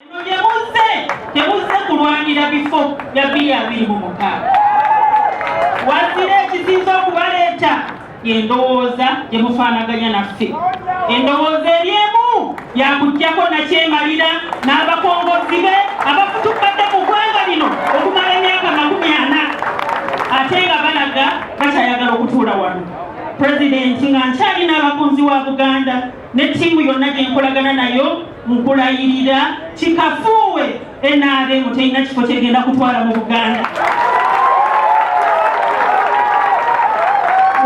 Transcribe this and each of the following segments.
Bino bye muzze temuzze kulwanira bifo bya bbiri abiri mu mukaaga wazira ekisinza okubaleeta endowooza gye mufaanaganya naffe endowooza eri emu yakuggyako nakyemalira n'abakongozi be abafutukkadde mu ggwanga lino okumala emyaka makumi ana ate nga balaga bakyayagala okutuula wano pulezidenti nga nkyalina abakunzi wa buganda ne ttiimu yonna gye nkolagana nayo Nkulayirira kikafuuwe NRM terina kifo kyegenda kutwala mu Buganda.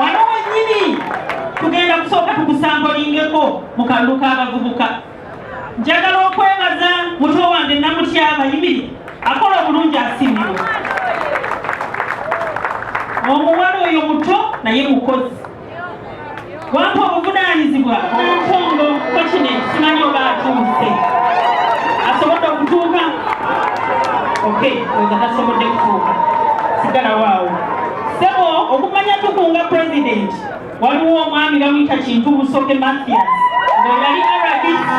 Wano wennyini tugenda kusooka tukusambolingeko mu kalulu k'abavubuka. Njagala okwebaza muto wange Namutyaba Yimiri akola obulungi asiimibwa. Omuwala oyo muto naye mukozi. wampa obuvunaanyizibwa omutungo kokine simanyi oba atuuse asobodde okutuuka ok oza tasobodde kutuuka sigala waawo sebo okumanya tukunga president waliwo omwami bamuyita kintu busoke mathias nga yali rdc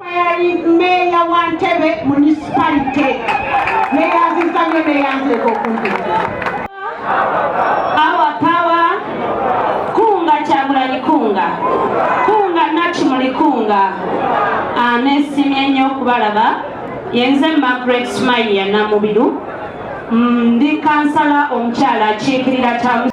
Meeya wa Ntebe munisipalite neyanziza nyo neyanzireka okunjeza awa pawa kunga kyagulanyi kunga kunga nakimuli kunga anesimye ah, nyo okubalaba yenze Margaret Smile ya Namubiru Mm, ndi kansala omukyala akiikirira taata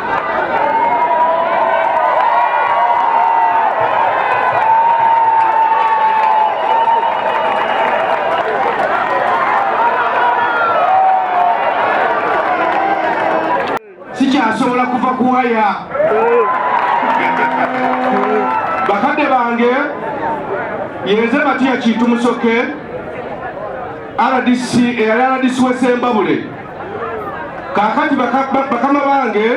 sikyasobola kuva kuwaya bakadde bange yenze matiya kintu musoke rdc eyali rdc wesembabule kakati bakama bange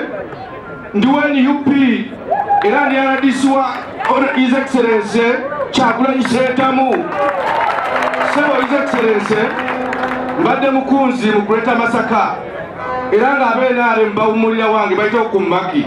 ndi wa nup era ndi rdc wa his excellence kyagulanyi sentamu sebo his excellence mbadde mukunzi mu greater masaka era ng'abenaare mubawumulira wange bayita okumaki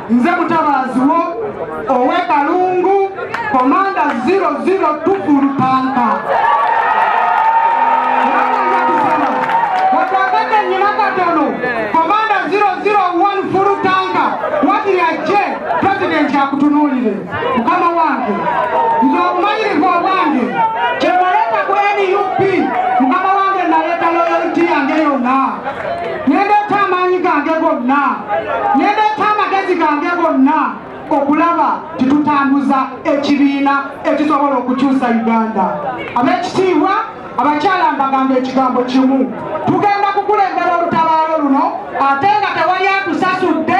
nze mutabaazi wo owe kalungu komanda 00 tufulutanka akutunuulire mukama wange nze obumanyirivu obwange kyewaleeta ku nup mukama wange naleeta loyaliti yange yonna nendeeta amaanyi gange gonna nendeeta amagezi gange gonna okulaba titutambuza ekibiina ekisobola okukyusa uganda abekitiibwa abakyala mbagamba ekigambo kimu tugenda kukulembera olutabaalo luno ate nga tewali atusasudde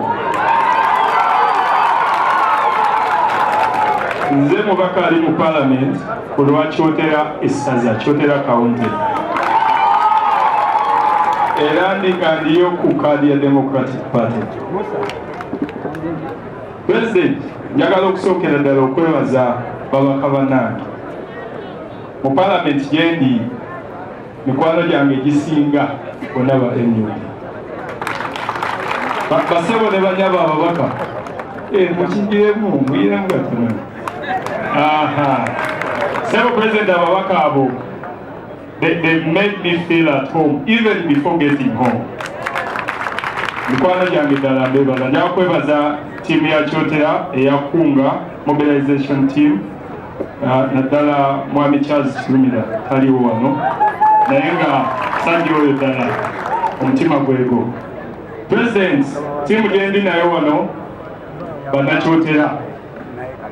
nze mubaka ali mu palamenti ku lwa kyotera essaza kyotera kawunti era ndikandiyo ku kaadi ya democratic party president njagala okusookera ddala okwebaza babaka banange mu palamenti gyendi Mikwano gyange egisinga bonna ba nup basebo ne banyabo ababaka eh, mukijiremu muyiremu gatono sebo president ababaka abo they, they made me feel at home even before getting home mikwano gyange ddala mbebaza njakwebaza tiimu ya kyotera eyakunga mobilization team naddala mwami charles kirumira taliwo wano naye nga sandi oyo ddala omutima gwego president tiimu gyendi nayo wano banakyotera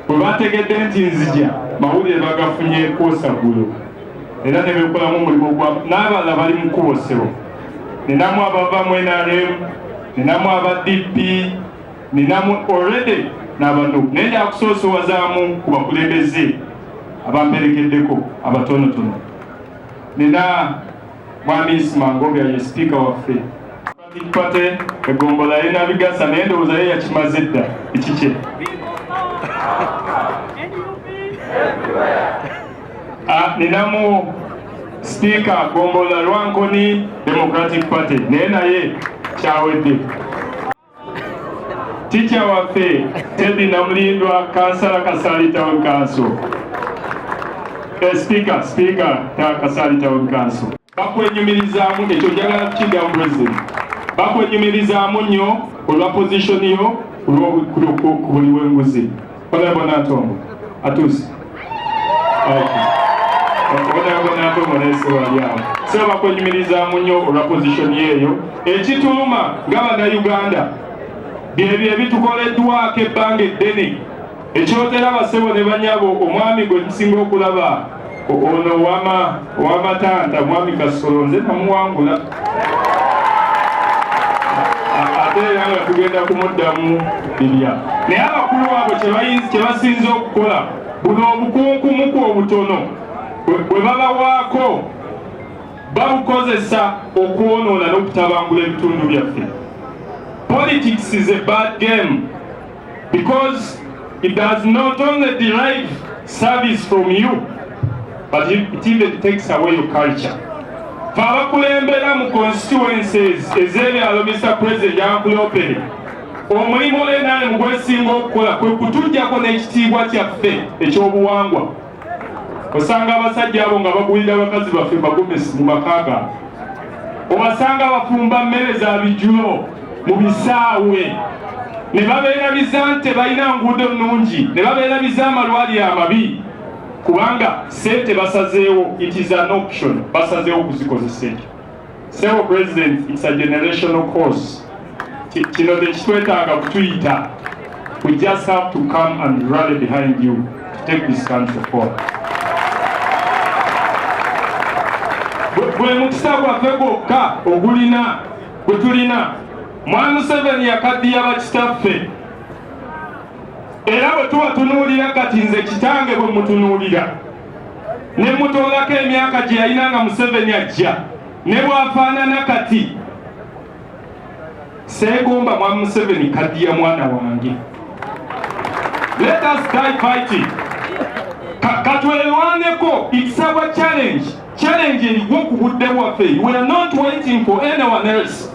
bwe bategedde nti nzija mawulire bagafunye kwosaggulu era ne bekolamu omulimu gwa n'abalala bali mu kkubo ssebo ninamu abava mu nrm ninamu aba dp Ninamu already n'abanup naye njakusoosowazamu ku bakulembeze abamperekeddeko abatonotono. Nina Mwami Isma Ngobya ye sipiika waffe. Democratic Party eggombolola yalina Bigasa naye ndowooza ye yakimaze dda ekikye. Ah, ninamu sipiika ggombolola Lwankoni Democratic Party naye naye kyawedde. Ticha waffe Teddy Namulindwa kansala Kasali Town Council. Eh, speaker, speaker ta Kasali Town Council. Bakwenyumirizaamu ekyo njagala kukiddamu president. Bakwenyumirizaamu nnyo olwa position yo olw'okuli w'enguzi. Honorable Nantongo atuuse Honorable Nantongo naye si wali awo siraba kwenyumirizaamu nnyo olwa pozisoni eyo ekituluma nga bannayuganda byebyo ebitukoleddwako ebbanga eddene ekyoteraba ssebo ne banyabo omwami gwe tusinga okulaba Ono ow'amatanda mwami Kasolo nze namuwangula ate era nga tugenda kumuddamu bibya naye abakulu abo kye basinze okukola buno obukunkumuku obutono bwe babawaako babukozesa okwonoona n'okutabangula ebitundu byaffe politics is a bad game because it does not only derive service from you but it even takes away your culture fe abakulembera mu constituencies ez'ebyalo mr president yakulopere omulimu nrm gwesinga okukola kwe kutujjako n'ekitiibwa kyaffe ekyobuwangwa osanga abasajja abo nga bagulira abakazi baffe magomesi mu makaga obasanga bafumba mmere za bijulo mu bisaawe ne babeerabiza nti balina nguudo nnungi ne babeerabiza amalwaliro amabi kubanga sente basazeewo it is an option basazeewo okuzikozesa ekyo Sebo President, it's a generational course. Kino tekitwetaaga kutuyita. We just have to come and rally behind you to take this country forward. Gwe mukisa gwaffe gwokka ogulina gwe tulina Mwami Museveni yakaddiya bakitaffe era bwe tuba tunuulira kati nze kitange bwe mutunuulira ne mutoolako emyaka gye yalina nga Museveni ajja ne bwafaanana kati seegomba mwa Museveni kadiya mwana wange let us die fighting katwelwaneko it's our challenge challenge eriwo ku budde bwaffe we are not waiting for anyone else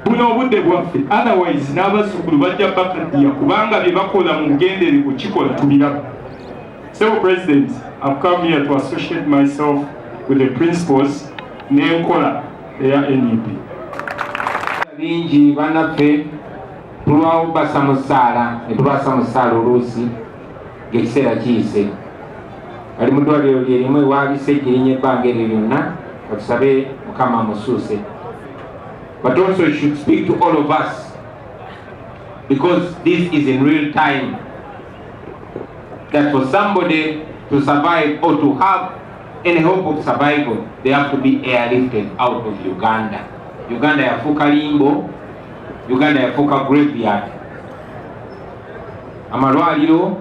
buno obudde bwaffe otherwise n'abazzukulu bajja bakadiya kubanga bye bakola mu bugendere kukikola tubiraba Sebo President, I've come here to associate myself with the principles n'enkola eya NUP. E Bingi banaffe tulwawo basa mu ssaala ne tubaasa mu ssaala oluusi ng'ekiseera kiyise. Ali mu ddwaliro lye limu ewaabise ejjirinya ebbanga eryo lyonna batusabe Mukama amusuuse. But also should speak to all of us because this is in real time. that for somebody to survive or to have any hope of survival, they have to be airlifted out of Uganda. Uganda yafuka limbo, Uganda yafuka graveyard. Amalwaliro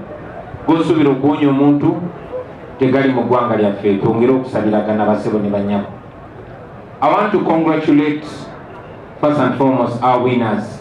gosubira okuwonya omuntu tegali mu ggwanga lyaffe twongere okusabiragana basebo ne banyabo. I want to congratulate first and foremost our winners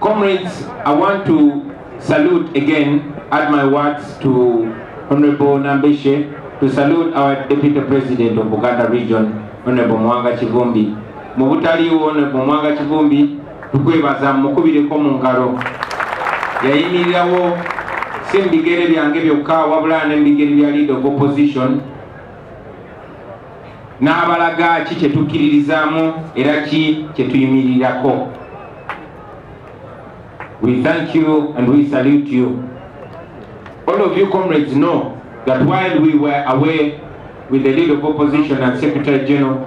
Comrades, I want to salute again, add my words to Honorable Nambeshe, to salute our Deputy President of Buganda Region, Honorable Mwanga Chivumbi. Mu butaliwo Honorable Mwanga Chivumbi, tukwebaza mukubireko mu ngalo. Yayimirirawo si mu bigere byange byokka wabula ne mu bigere bya leader of opposition n'abalaga ki kye tukkiririzaamu era ki kye tuyimirirako we thank you and we salute you all of you comrades know that while we were away with the leader of opposition and secretary general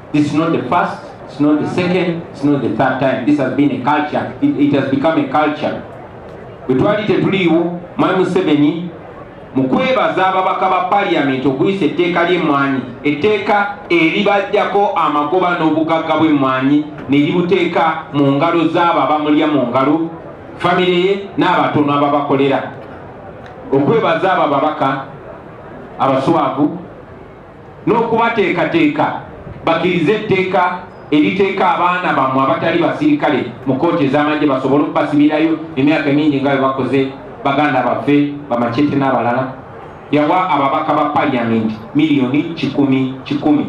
This is not the first, it's not the second, it's not the third time. This has been a culture. It, it has become a culture. Bwe twali tetuliiwo Mwami Museveni mu kwebaza ababaka ba parliament okuyisa etteeka ly'emmwanyi etteeka eribajjako amagoba n'obugagga bw'emmwanyi ne libuteeka mu ngalo z'abo abamulya mu ngalo famire ye n'abatono ababakolera okwebaza abo ababaka abaswavu n'okubateekateeka bakirize etteeka eriteeka abaana bammwe abatali basirikale mu kkooti ez'amagye basobole okubasibirayo emyaka mingi nga bwe bakoze baganda baffe bamacete n'abalala yawa ababaka ba paliyamenti miliyoni kikumi kikumi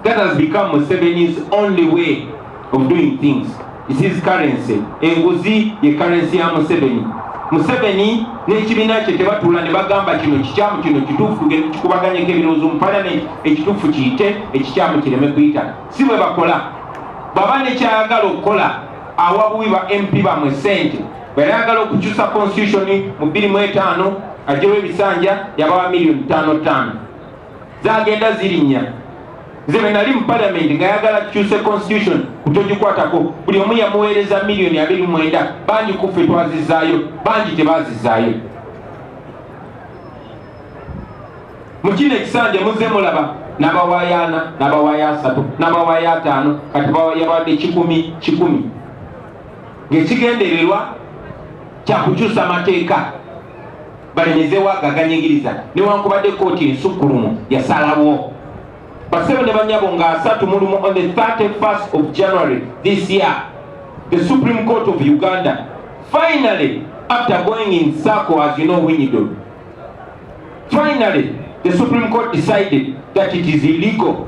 That has become Museveni's only way of doing things. It is currency. Enguzi ye currency ya Museveni. Museveni n'ekibiina kye tebatula ne bagamba kino kikyamu kino kituufu tugende tukubaganyeko ebirowoozo mu palamenti ekituufu kiyite ekikyamu kireme kuyita si bwe bakola bwaba nekyayagala okukola awa buwi ba mp bamwe sente bweyayagala okukyusa constitution mu bbiri mu etaano ajjewo ebisanja yabawa miliyoni ttaano ttaano zagenda zirinya nze bwe nali mu palamenti nga yagala tukyuse constitution kutogikwatako buli omu yamuweereza miliyoni abiri mwenda bangi kuffe twazizaayo bangi tebazizaayo mu kino ekisanja muzze mulaba n'abawaayo ana n'abawaayo asatu n'abawaayo ataano kati bawayabawadde kikumi kikumi ng'ekigendererwa kyakukyusa mateeka balemezewo agaganyigiriza newankubadde kooti ensukkulumu yasalawo basebo ne banyabo nga asatu mulumu on the 31st of january this year the supreme court of uganda finally after going in circle as you know winyido finally the supreme court decided that it is illegal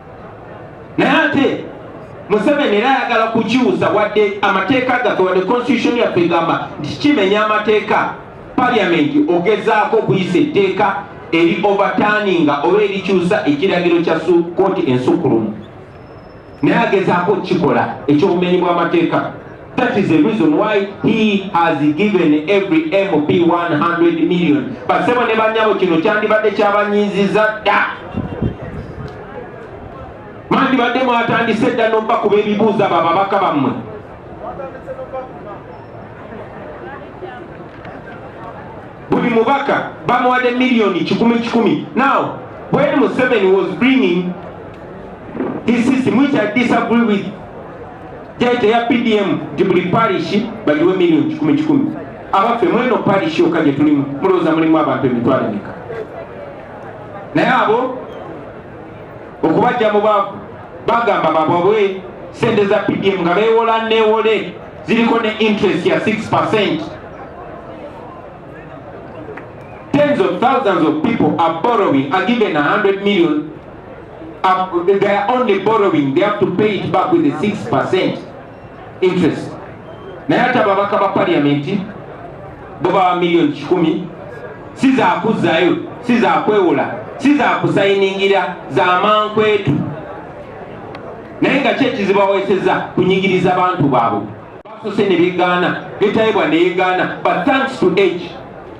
naye ate Museveni era ayagala kukyusa wadde amateeka gaffe wadde constitution yaffe egamba nti kimenya amateeka parliament ogezaako okuyisa etteeka eri overturninga oba erikyusa ekiragiro kya kooti ensukulumu naye agezaako okukikola ekyobumenyi bw'amateeka That is the reason why he has given every MP 100 million. Basebo ne banyabo kino kyandibadde kyabanyiiziza dda. Mwandibadde mwatandise dda n'okuba kuba ebibuuza abo ababaka bammwe. Buli mubaka bamuwadde miliyoni kikumi kikumi. Now, when Museveni was bringing his system, which I disagree with, Jajja ya PDM nti buli parish bagiwe million kikumi kikumi. Abaffe mweno parish yokka gye tulimu mulowooza mulimu abantu emitwalo emeka? Naye abo okubajja mu baavu bagamba bababwe sente za PDM nga beewola neewole ziriko ne interest ya 6 percent. Tens of thousands of people are borrowing, are given 100 million Um, they are only borrowing, they have to pay it back with a 6% interest. Naye ate ababaka ba parliament bo bawa million kikumi si zakuzzayo si zakwewola si zakusayiningira za mankwetu naye nga kyekizibu aweseza kunyigiriza bantu baabwe basose ne begaana netayebwa ne yegaana but thanks to age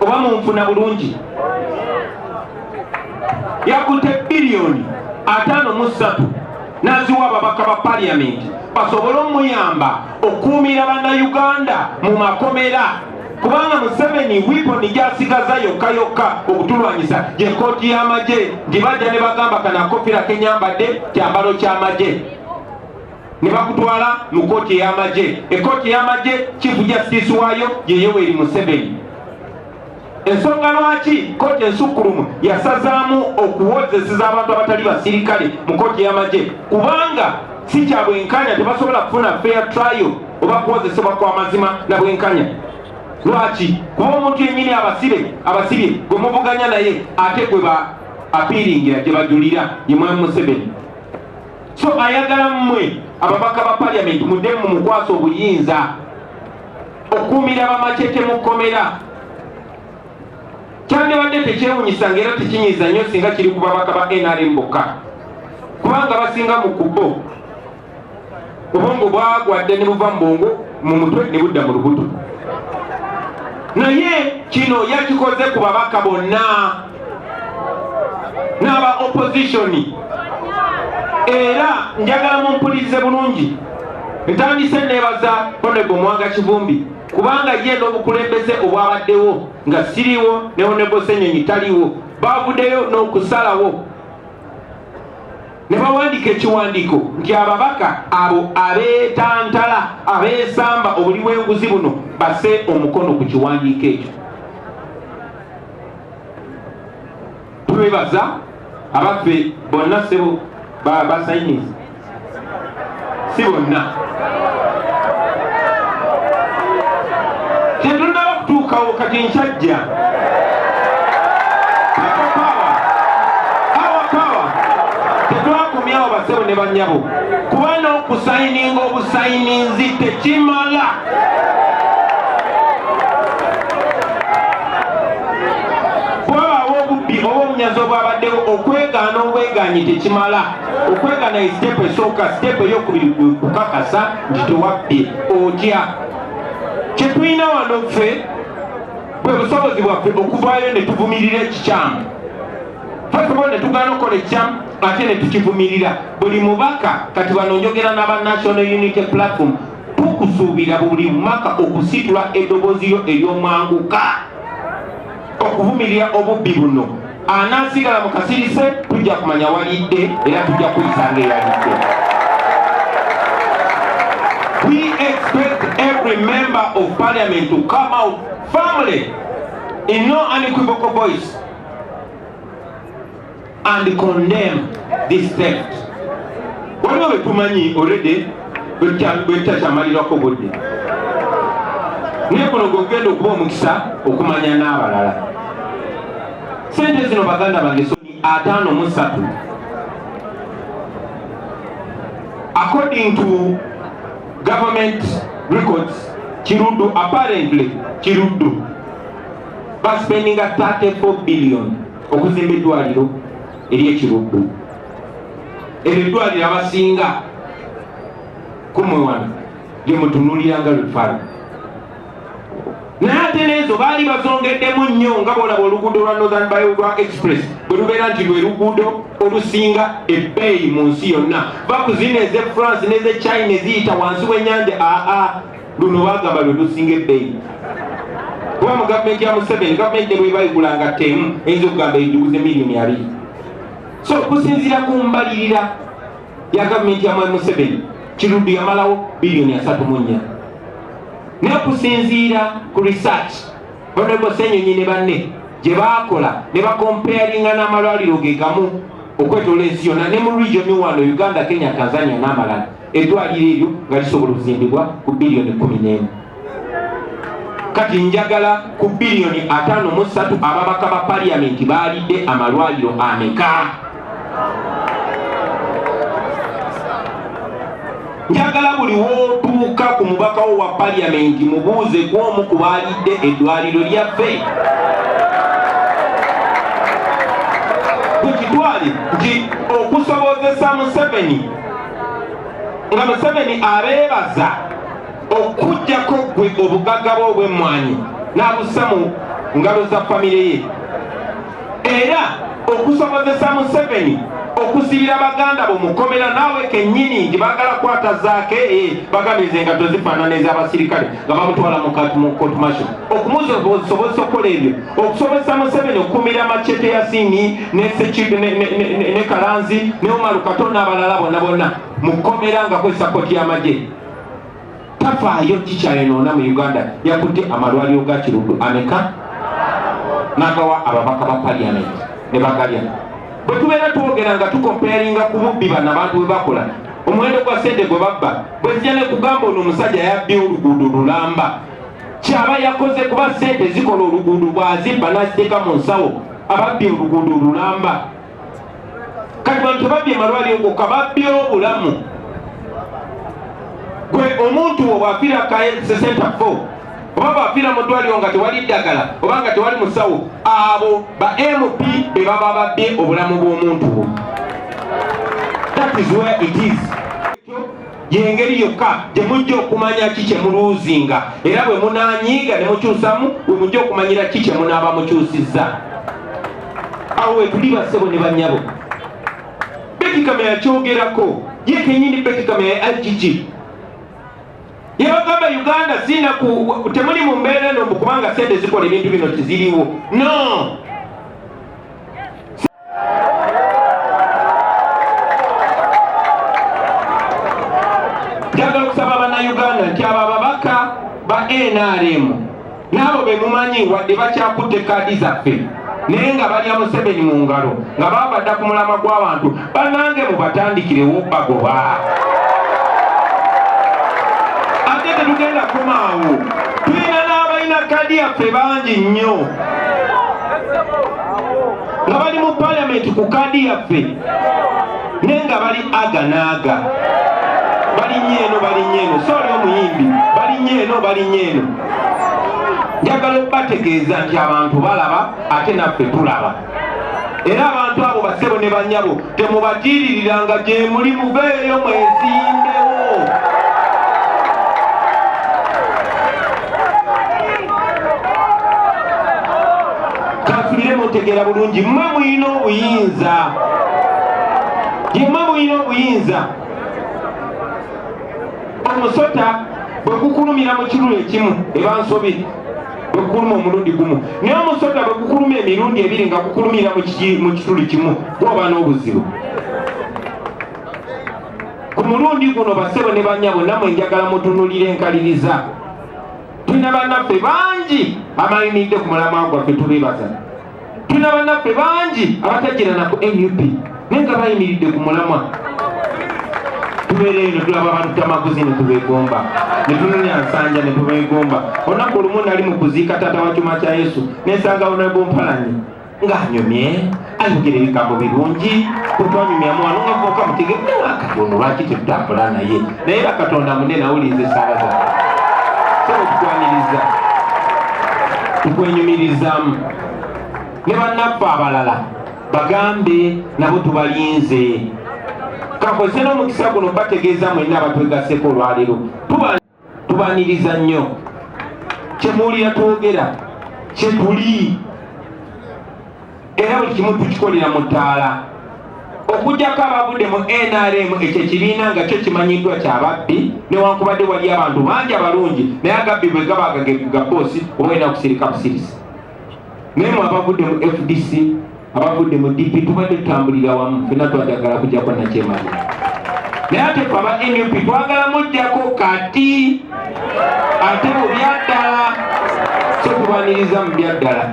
oba munfuna bulungi yakutte biliyoni ataano mu ssatu naziwa ababaka ba paliyamenti basobole omuyamba okuumira bannayuganda mu makomera kubanga museveni wiponi gyasigaza yokka yokka okutulwanyisa gye kooti y'amagye gye bajja ne bagamba kanakofira kenyambadde kyambalo ky'amagye ne bakutwala mu kkooti ey'amagye ekkooti ey'amagye kifu jasitiisi waayo ye yoweri museveni ensonga lwaki kkooti ensukkulumu yasazaamu okuwozeseza abantu abatali basirikale mu kkooti y'amagye kubanga si kya bwenkanya tebasobola kufuna fair trial oba kuwozesebwa kwa mazima na bwenkanya lwaki kuba omuntu yennyini abasibe abasibye gwe muvuganya naye ate gwe ba apiiringira gye bajulira ye mwami museveni so ayagala mmwe ababaka ba paliamenti mudemu mumukwasa obuyinza okukuumira bamacete mu kkomera kyandibadde tekyewunyisa nga era tekinyiza nnyo singa kiri ku babaka ba nrm bokka kubanga basinga mu kubo obwongo bwagwa dda ne buva mu bwongo mu mutwe ne budda mu lubuto naye kino yakikoze ku babaka bonna n'aba opozitioni era njagala mumpulirize bulungi ntandise neebaza honego mwanga kivumbi kubanga ye n'obukulembeze obwabaddewo nga siriwo ne honego senyonyi taliwo baavudeyo n'okusalawo ne bawandiika ekiwandiiko nti ababaka abo abeetantala abeesamba obuli bw'enguzi buno base omukono ku kiwandiiko ekyo twebaza abaffe bonna sebo basayinizi si bonna tetunaba kutuukawo kati nkyajja tetwakomyawo basebo ne banyabo kuba n'okusayininga obusayininzi tekimala obusobozi obwabaddewo okwegaana obwegaanyi tekimala okwegana ye sitepu esooka sitepu eyokubiri kukakasa nti tewabbi otya kyetulina wano ffe bwe busobozi bwaffe okuvaayo ne tuvumirira ekikyamu fasibo ne tugaana okukola ekikyamu ate ne tukivumirira buli mubaka kati bano njogera n'aba national unity platform tukusuubira buli mwaka okusitula eddoboozi yo ery'omwanguka okuvumirira obubbi buno anaasigala mu kasirise tujja kumanya walidde era tujja kuyisanga eyalidde we expect every member of parliament to come out firmly in no unequivocal voice and condemn this theft. Waliwo betumanyi already bwetutakyamalirako budde naye kuno gwekugenda okuba omukisa okumanya n'abalala sente zino baganda bange ataano mu ssatu according to government records kiruddu apparently kiruddu baspendinga 34 billion okuzimba eddwaliro eryekiruddu eryo eddwaliro abasinga kumwe wano lyemutunulira nga lufala naye ate neezo baali bazongeddemu nnyo nga bolaba oluguudo lwa northern biogra express bwe lubeera nti lwe luguudo olusinga ebbeeyi mu nsi yonna bakuzina eze france n'eze china eziyita wansi w'enyanja aa luno bagamba lwe lusinga ebbeeyi kuba mu gavumenti ya museveni gavumenti ne bwebayigula nga temu eyinza okugamba ejuguze miliyoni abiri so kusinziira ku mbalirira ya gavumenti ya mwami museveni kiruddu yamalawo biliyoni asatu mu nnya naye kusinziira ku research honorable senyonyi ne banne gye baakola ne bakompayaringa n'amalwaliro ge gamu okwetoola ensi yonna ne mu region wano uganda kenya tanzania n'amalala eddwaliro eryo nga lisobola okuzimbibwa ku biliyoni kumi n'emu kati njagala ku biliyoni ataano mu ssatu ababaka ba paliyamenti baalidde amalwaliro ameka njagala buli wotuuka ku mubaka wo wa paliyamenti mubuuze gwomu ku baalidde eddwaliro lyaffe tukitwale nti okusobozesa museveni nga museveni abeebaza okujjako gwe obugagga bwe obw'emmwanyi n'abussa mu ngalo za famire ye era okusobozesa museveni okusibira baganda bo mukomera naawe kennyini nti baagala kwata zaake eh, bagamize nga tozifaanana ez'abasirikale nga bamutwala mu kootumasho okumusobozesa okukola ebyo okusobozesa Museveni okukumira Machete Yasini ne Sekibi ne, ne, ne, ne, ne Kalanzi ne Umaru Kato n'abalala bonna bonna mu kkomera nga kwe sapoti y'amagye tafaayo kikyayonoona mu Uganda yakutte amalwaliro ga Kiruddu ameka n'agawa ababaka ba parliament ne bagalya bwe tubeera twogera nga tukomparinga ku bubbi bano abantu bwe bakola omuwendo gwa sente gwe babba bwezija nekugamba ono omusajja yabbi oluguudo lulamba kyaba yakoze kuba sente zikola oluguudo bwazimba naziteeka mu nsawo ababbye oluguudo olulamba kati bantu babbye malwaliro gokka babbye obulamu gwe omuntu wo bwafira kasesenta fo oba bwafira mu ddwaliro nga tewali ddagala oba nga tewali musawo abo ba mp be baba babbye obulamu bw'omuntu wo that is where it is yengeri yokka gye mujja okumanya ki kye muluuzinga era bwe munanyiiga ne mukyusamu we mujja okumanyira ki kye munaaba mukyusizza awo wetuli basebo ne banyabo betikama yakyogerako ye kenyini betikama ya agg yebagamba uganda sinaku temuli mu mbeera eno mbu kubanga sente zikola ebintu bino tiziriwo no njagala okusaba bannayuganda nti abo ababaka ba nrm n'abo be mumanyi wadde bakyakutte kaadi zaffe naye nga balya museveni mu ngalo nga baabadda ku mulama gw'abantu banange mubatandikirewo bagoba ate tetugenda kumaawo tulina n'abalina kaadi yaffe bangi nnyo nga bali mu palamenti ku kaadi yaffe naye nga bali aga naaga balinye eno balinye eno sooli omuyimbi balinye eno balinye eno njagala okubategeeza nti abantu balaba ate naffe tulaba era abantu abo basebo ne banyabo Temubatiiririra nga gye muli, muveeyo mwezimbewo. Kansubire mutegeera bulungi, mmwe mulina obuyinza, mmwe mulina obuyinza. Omusota bwe gukulumira mu kirulu ekimu eba nsobi. bwe gukuluma omulundi gumu naye omusota bwe gukuluma emirundi ebiri nga gukulumira mu kituli kimu gwoba n'obuzibu ku mulundi guno basebo ne banyabo namwe njagala mutunulira enkaliriza tulina bannaffe bangi abalinidde ku mulamwa gwaffe tubebaza tulina banaffe bangi abatajirana ku nup naye nga bayimiridde ku mulamwa tubeereyo netulaba abantu tamaguzi netubegomba netunonya nsanja netubegomba olunaku olumu nali mu kuziika taata wa kyuma kya yesu nensanga onabompalanyi ng'anyumye ayogera ebigambo birungi kwetwanyumyamu wano nga voka mutegekati ono lwaki tetutambula naye naye bakatonda mune nawuliza esaala za sebo tukwaniriza tukwenyumirizamu ne bannaffe abalala bagambe nabo tubalinze kakozese n'omukisa guno bategeeza mwenna abatwegaseko olwaleero tubaniriza nnyo kyemuwulira twogera kyetuli era buli kimu tukikolera mu ttaala okujjako abavudde mu nrm ekyo ekibiina nga kyo kimanyiddwa kyababbi newankubadde wali abantu bangi abalungi naye agabbi bwe gaba gagegagaboosi oba olina kusirika busirisi naye mwe abavudde mu fdc abavudde mu dp tubadde tutambulira wamu fena twajagala kujjako nakyemali naye ate fe aba nup twagala mujjako kati ate mu byaddala so tubaniriza mu byaddala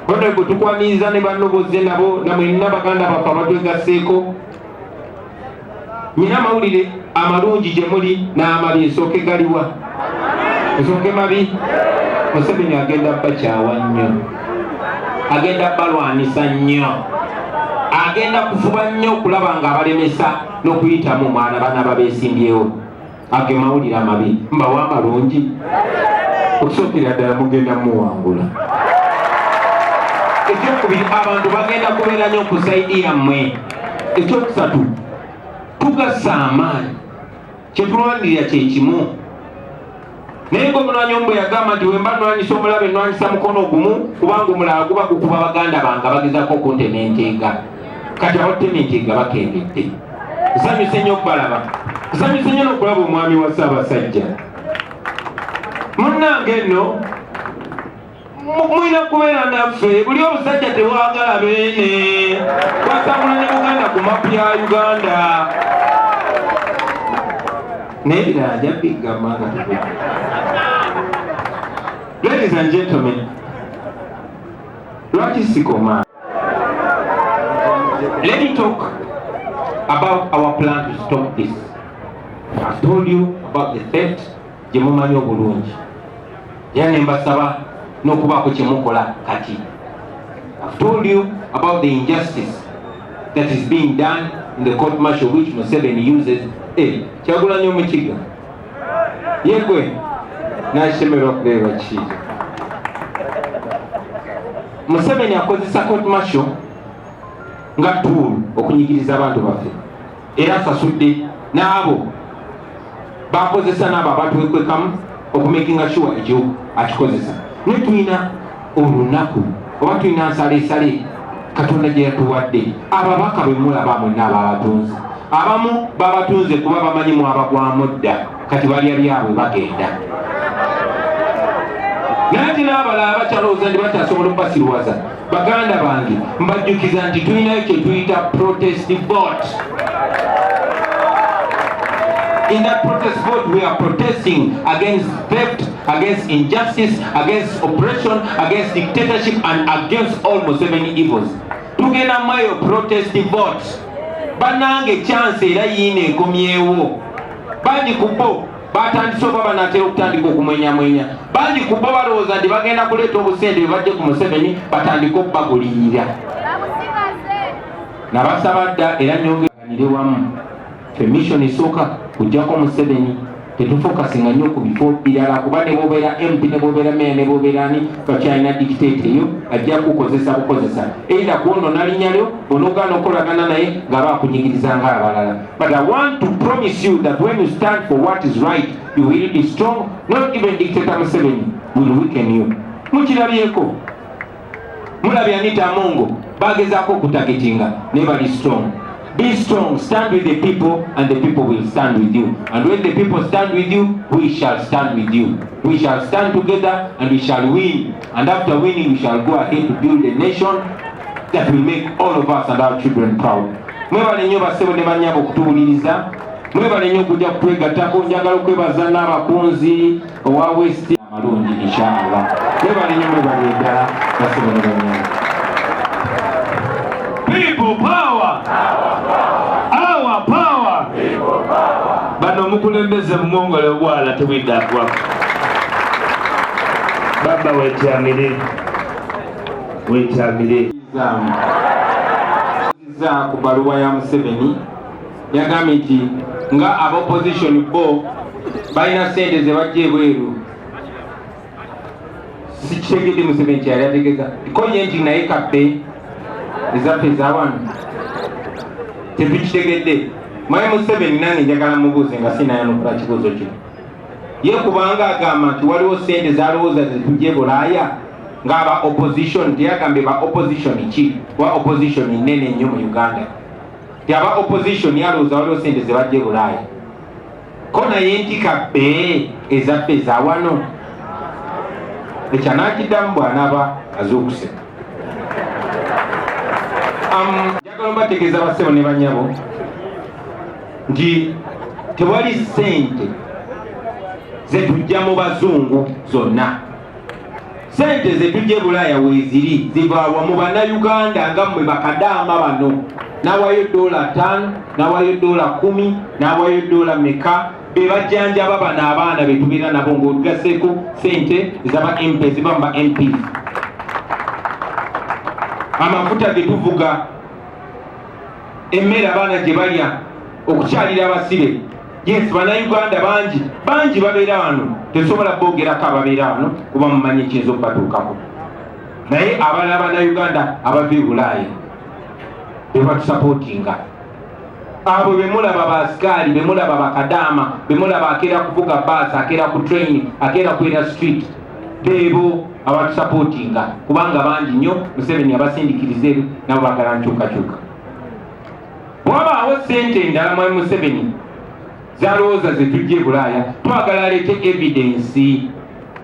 Honorable tukwaniriza ne banno bozze nabo na mwenna baganda baffe abatwegasseeko nyina amawulire amalungi gye muli n'amabi nsooke galiwa nsooke mabi museveni agenda bakyawa nnyo agenda balwanisa nnyo agenda kufuba nnyo okulaba ng'abalemesa n'okuyitamu mwana bana babesimbyewo ago mawulire amabi mbawa amalungi okusookera ddala mugenda muwangula ekyokubiri abantu bagenda kubeera nyo ku saidi yammwe ekyokusatu tugasa amaanyi kyetulwanirira kyekimu naye nga omulwanyi omu bwe yagamba nti wemba nwanyisa omulabe nwanyisa mukono ogumu kubanga omulala guba gukuba baganda bange bagezako okuntema enteega kati abateminti nga bakengedde nsanyuse nnyo okubalaba nsanyuse nnyo n'okulaba omwami wa ssaabasajja munnange nno mulina kubeera naffe buli obusajja tebwagala beene bwasangula ne buganda ku mapu ya uganda naye birala nja bigamba nga tube ladies and gentlemen lwaki sikoma Let me talk about our plan to stop this. I've told you about the theft gye mumanyi obulungi era ne mbasaba n'okubaako kye mukola kati I've told you about the injustice that is being done in the court martial which Museveni uses eh, kyagulanyo mukiga yegwe nashemerwa kureba kiija museveni akozesa court martial nga tool okunyigiriza abantu baffe era asasudde n'abo bakozesa n'abo abatwekwekamu okumakinga sure ekyo akikozesa naye tulina olunaku oba tulina nsaleesale katonda gye yatuwadde ababaka bwe mulaba mwenna ababatunzi abamu babatunze kuba bamanyi mwabagwamu dda kati balya byabwe bagenda naye ti n'abalala bakyalowooza nti bakyasobola okubasiruwaza baganda bange mbajjukiza nti tulinayo kye tuyita protest bot in that protest vote we are protesting against theft against injustice, against oppression, against dictatorship and against all Museveni evils. Tugenda mweyo protest vote. Banange chance era yiine ekomyewo. Bangi kubo batandise oba banatera okutandika okumwenyamwenya. Bangi kubo balowooza nti bagenda kuleeta obusente bebajje ku Museveni batandike okubagulirira. Nabasaba dda era nyonge Tuganire wamu ffe mission esooka kujjako Museveni tetufokasinga nnyo ku bifo birala kuba ne bwobeera MP ne bwobeera meya ne bwobeera ani bakyalina dictate eyo ajja kukozesa bukozesa either kwonona linnya lyo onogaana okolagana naye ng'aba akunyigiriza nga abalala but I want to promise you that when you stand for what is right you will be strong not even dictator Museveni will weaken you mukilabyeko mulabye anita amongo bagezaako okutagetinga naye bali strong be strong stand with the people and the people will stand with you and when the people stand with you we shall stand with you we shall stand together and we shall win and after winning we shall go ahead to build a nation that will make all of us and our children proud mwebale nnyo basebo ne banyabo okutuwuliriza mwebale nnyo okujja kutwegattako njagala okwebaza n'abakunzi owa west amalungi inshallah webalinyo mwebali eddala basoboneranya people power our power bano omukulembeze mumwongole obwala tewidda agwa baba wetyamire wetyamire ku baluwa ya museveni Yagambye nti nga aba opposition bo balina ssente ze bajja ebweru sikitegedde Museveni kyeyali ategeza ko ye nti naye kabbe ezaffe ezawano tetukitegedde mwaye Museveni nange njagala mubuuze nga sinayanukula kibuuzo kino ye kubanga agamba nti waliwo ssente zalowooza zetujja e bulaaya ng'aba opposition teyagambye ba opposition ki kuba opposition nene nnyo mu uganda nti aba opposition yalowooza waliwo sente zebajja e bulaaya ko naye ntika bbe ezaffe ezawano ekyanakiddamu bwanaba azuukuse njagala obategeeza basebo ne banyabo nti tewali sente zetujja mu bazungu zonna sente zetujje bulaaya weziri zivaawa mu bannayuganda nga mmwe bakadaama bano nawayo doola ttaano nawayo doola kumi nawayo doola meka bebajjanjaba bano abaana betubeera nabo ngaotugaseeko sente zaba mp ziba mu ba mp amafuta getuvuga emmere abaana gye balya okukyalira abasibe Yes, bannayuganda bangi bangi babeera wano, tesobola boogerako ababeera wano kuba mumanyi ekiyinza okubatuukako, naye abalala bannayuganda abava e Bulaaya bebatusapootinga abo bemulaba basikaali bemulaba bakadaama bemulaba akeera kuvuga baasi akeera ku train akeera kwera street beebo abatusapootinga kubanga bangi nnyo museveni abasindikiriza eri nabo bagala nkyukakyuka Bwabaawo sente endala mwami Museveni zalowooza zetujja e Bulaaya twagala aleete evidence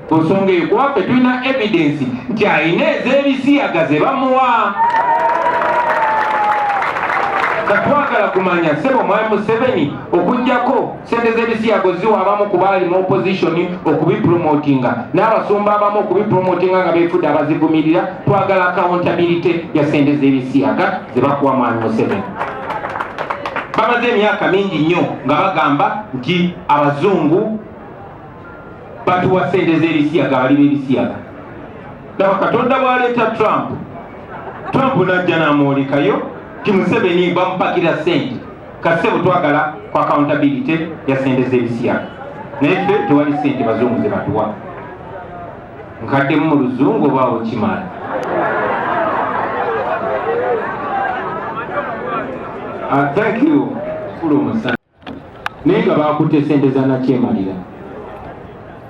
ku nsonga eyo kuba ffe tulina evidence nti alina ez'ebisiyaga ze bamuwa katwagala kumanya sebo mwami Museveni okujjako Sente z'ebisiyago ziwa abamu ku baali mu opozisoni okubipromotinga n'abasumba abamu okubipromotinga nga beefudde abazivumirira. Twagala akawuntabirite ya sente z'ebisiyaga ze bakuwa Mwami Museveni. Bamaze emyaka mingi nnyo nga bagamba nti abazungu batuwa sente z'ebisiyaga, bali b'ebisiyaga. Laba Katonda bw'aleeta Trump, Trump n'ajja n'amwolekayo nti Museveni bamupakira sente. kasebo twagala ku accountability ya sente z'ebisiyaga naye ffe tewali sente bazungu ze batuwa nkaddemu mu luzungu obaawo kimaala ah, thank you kulu omusana naye nga bakutte sente zanakyemalira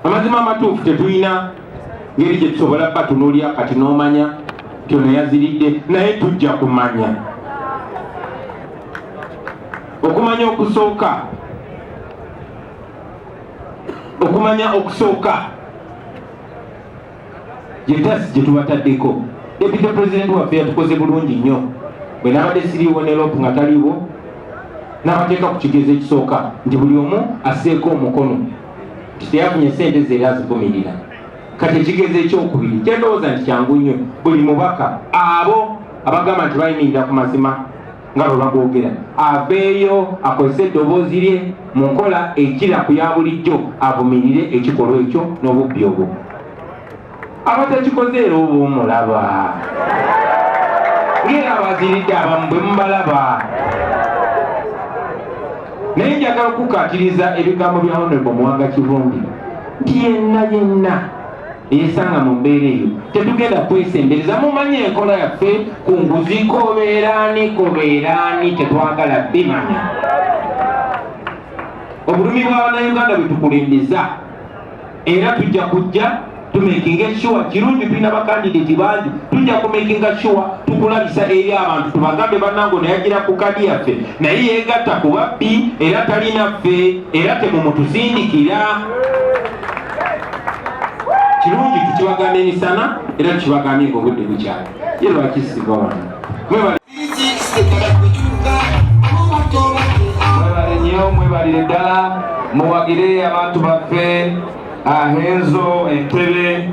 Amazima amatuufu tetulina ngeri gye tusobola batunuulira kati n'omanya kyona yaziridde naye tujja kumanya okumanya okusooka okumanya okusooka gyetasi gyetubataddeko deputy president waffe yatukoze bulungi nnyo bwe nabadde siriiwo ne lop nga taliiwo n'abateeka ku kigezo ekisooka nti buli omu asseeko omukono nti teyafunye sente ze era azivumirira kati ekigezo ekyokubiri kyendowooza nti kyangu nnyo buli mubaka abo abagamba nti bayimirira ku mazima nga bwe bagoogera aveeyo akozese eddoboozi lye mu nkola ekira ku ya bulijjo avumirire ekikolwa ekyo n'obubbi obwo abatakikoze era oba omulaba ngera abaziridde abamu bwe mubalaba naye njagala okukatiriza ebigambo bya honorable muwanga kivumbi nti yenna yenna yesanga mu mbeera eyo tetugenda kwesembereza mumanye enkola yaffe ku nguzi kobeeraani kobeeraani tetwagala bimanya obulumi bwa bannayuganda bwetukulembeza era tujja kujja tumekinga sure kirungi tulina bakandidati bangi tujja kumekinga sure tukulabisa eri abantu tubagambe banango neyagira ku kadi yaffe naye yegatta ku babbi era talina ffe era temumutusindikira kirungi tukibagamba emisana era tukibagambye nga obudde bukyali ye lwaki siva wano mwebale nnyo mwebalire ddala muwagire abantu baffe ahenzo entebe